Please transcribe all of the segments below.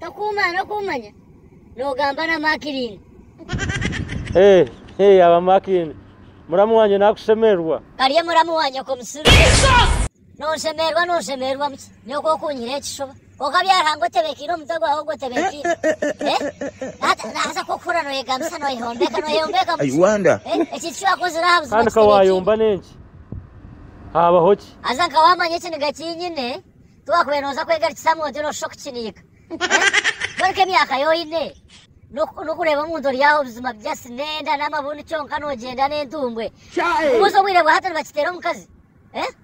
Tokuuma n'okuumanya, noogamba na Makirini. Hee, hee, yaaba Makirini, muramu wangye naakushemererwa. Karye muramu wa nyoko musiru. Nonshemererwa, nonshemererwa buki nyoko okunyiha ekishuba? Kwonka byariha ngu otebeekeire omutwe gwawe ogwo otebeekeire. Hati naaza kukuhurira nooyegambisa nooyehombeeka, nooyehombeeka buki? Ekintu eki waakozire aha buzima kitebeekeire. Kandi ka waayomba n'enki, haabaho ki? Haza nka waamanya ekiniga eki nyine, Ku waakubaire nooza kwegarikisa aha muntu noshuusha okukiniika. Mbwenu ku emyaka yo oine n'okureeba omuntu ori aho buzima buryasi n'enda n'amabunu kyonka noogyenda n'entumbwe. Nkubuuze obwire bwa hati nibakiteera omukazi?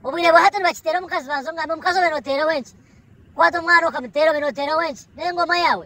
Obwire bwa hati nibakiteera omukazi? Banza ongambe omukazi obe nooteeraho enki? Kwaata omwana okamuteera obe nooteeraho enki? N'engoma yaawe?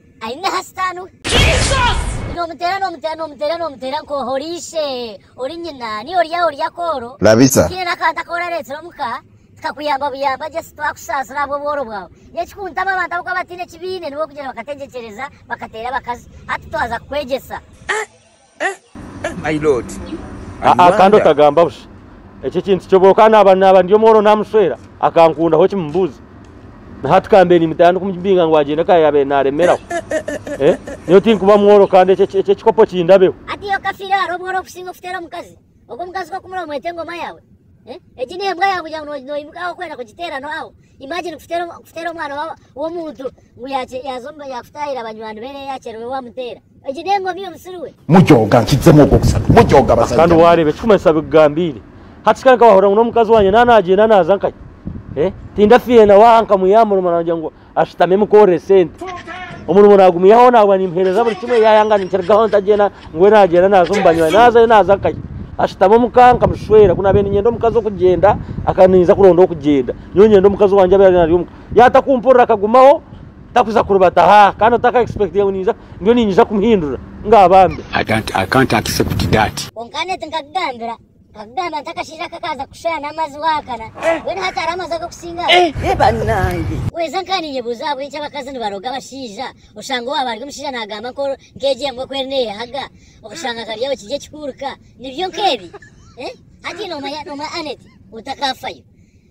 Aine aha sitaani we. Nomuteera nomuteera nomuteera nomuteera nka oha ori ishe ori nyina niyo ori aha ori akooro. Labisa. Tihaine n'akantu aku orareetsire omu ka tikakuyamba buyamba gye si twakushaasira ahabw'obworo bwawe. N'ekikuntama abantu abu bakuba bataine eki baine niwe orikugyenda bakategyegyereza bakateera abakazi. Hati twaza kukwegyesa. Aa kandi otagamba busha ekyo ekintu kyo bwoka naba naba ndi omworo namushwera akankunda hoki mubuuze na hati kambe nimutaya ndi kumubinga ngu agyende ka yabaire naremeraho nyowe tinkuba mworo kandi ekyo ekikopo kindabeho. Hati iyo okafiire hariho obworo obukusinga okuteera omukazi? ogwo omukazi ku akumura omwete engoma yawe eh? egi ni embwa yawe kugira ngu noimuka aho kwenda kugiteera no aho imagine kuteera omwana w'omuntu ngu yakutahira abanywani be yakyererwe wamuteera egi ni engoma iyo musiri we mujooga nkijemu ogwo obusabe mujooga abasajja kandi wareba ekikumanyisa bikugambiire hati kikaba nkabahurira ngu n'omukazi wanye nanagyenda naza nkaye eh? tindafiire nawe aha nkamuyamura omwana wangye ngu ashutami mukuhorera esente omurimo nagumihaho nabwa nimuhereza buri kimwe yayanga nikirugaho ntagyenda ngwe nagyenda naza omubanywani nazayo naza akayi ashutami omuka nkamushwera kunabe ninyenda omukazi okugyenda akaninza kuronda okugyenda nyo nyenda omukazi wangye abe ari omuka yatakumpurira akagumaho takuza kurubata ha kandi otaka expectinga ngu ninza ndiyo ninyiza kumuhindura ngabambe I can't, I can't accept that. Kwonka neti nkakugambira Akagamba nti akashaija aka kaaza kushwera n'amazi waakana, mbwenu hati hariho amazi ag'okusinga aha. Ehe banange! Kwonka nkaninyebuuza ahabw'enki abakazi nibaroga abashaija, oshanga owaaba ari omushaija naagamba nka ori nk'egi embwa ku eri neeyehaga, okashanga nka byawe kiri ekikuuruka. Nibyo nk'ebi? Hati noomanya noomanya Annet otakaafayo.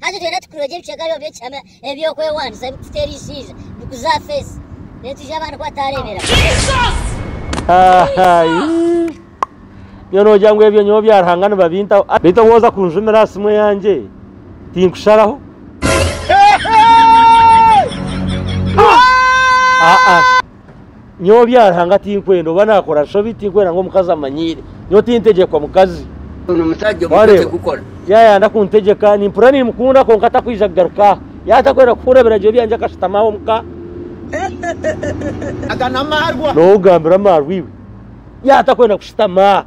Hati twena tukurogye ebicweka byabo by'ekihama eby'okwewanisa ebikukuteera eishiija, bikuze aha feesi, reero twije abandi ku bataareebera. Nyowe noogira ngu ebyo nyowe bya Ruhanga nibabintaho. Beitu obu oza kunjumira aha simu eyangye, tinkusharaho. Aa. nyowe byaruhanga tinkwenda oba nakora nshobi tinkwenda ngu omukazi amanyiire nyowe tintegyekwa mukazi yayanda kuntegyeka nimpura nimukunda kwonka takwija kugaruka aha yaba takwenda kuhura ebiragiro byangye akashutama aho muka nowe ogambira amarwa iwe yaba takwenda kushutama aha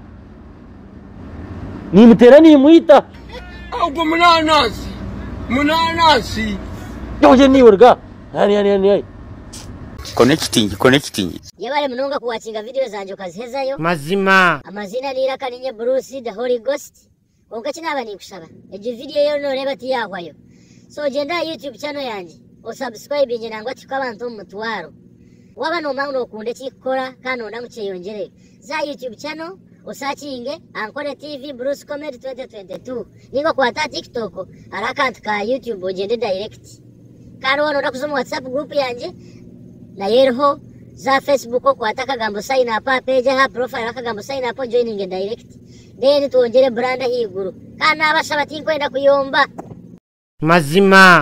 Nimuteera nimwita. Ogwo munanasi munanasi. Ogye niwe ruga. Ani ani ani ai. Connecting connecting. Yebale munonga ku watchinga video zangye okazihezayo. Mazima. Amaziina n'eiraka ninye Bruce the Holy Ghost. Kwonka eki naaba ninkushaba, egyo video ei oriyo noreeba tiyahwayo. So gyenda aha YouTube channel yangye o subscribinge nangwa tuhike abantu omu mutwaro. Waaba nomanya ngu nokunda eki nkukora kandi noyenda ngu kyeyongyereyo, Za aha YouTube channel osacinge Ankole TV Bruce Comedy 2022 ninga okwate aha TikTok hariho akantu ka YouTube ogyende direct. Kandi waaba nooyenda kuza omu WhatsApp group yangye nayo eriho. Za aha Facebook okwate akagambo sign up aha page aha profile akagambo sign up ojoininge direct. Then twongyere brand ahaiguru. Kandi naabashaba tinkwenda kuyomba. Mazima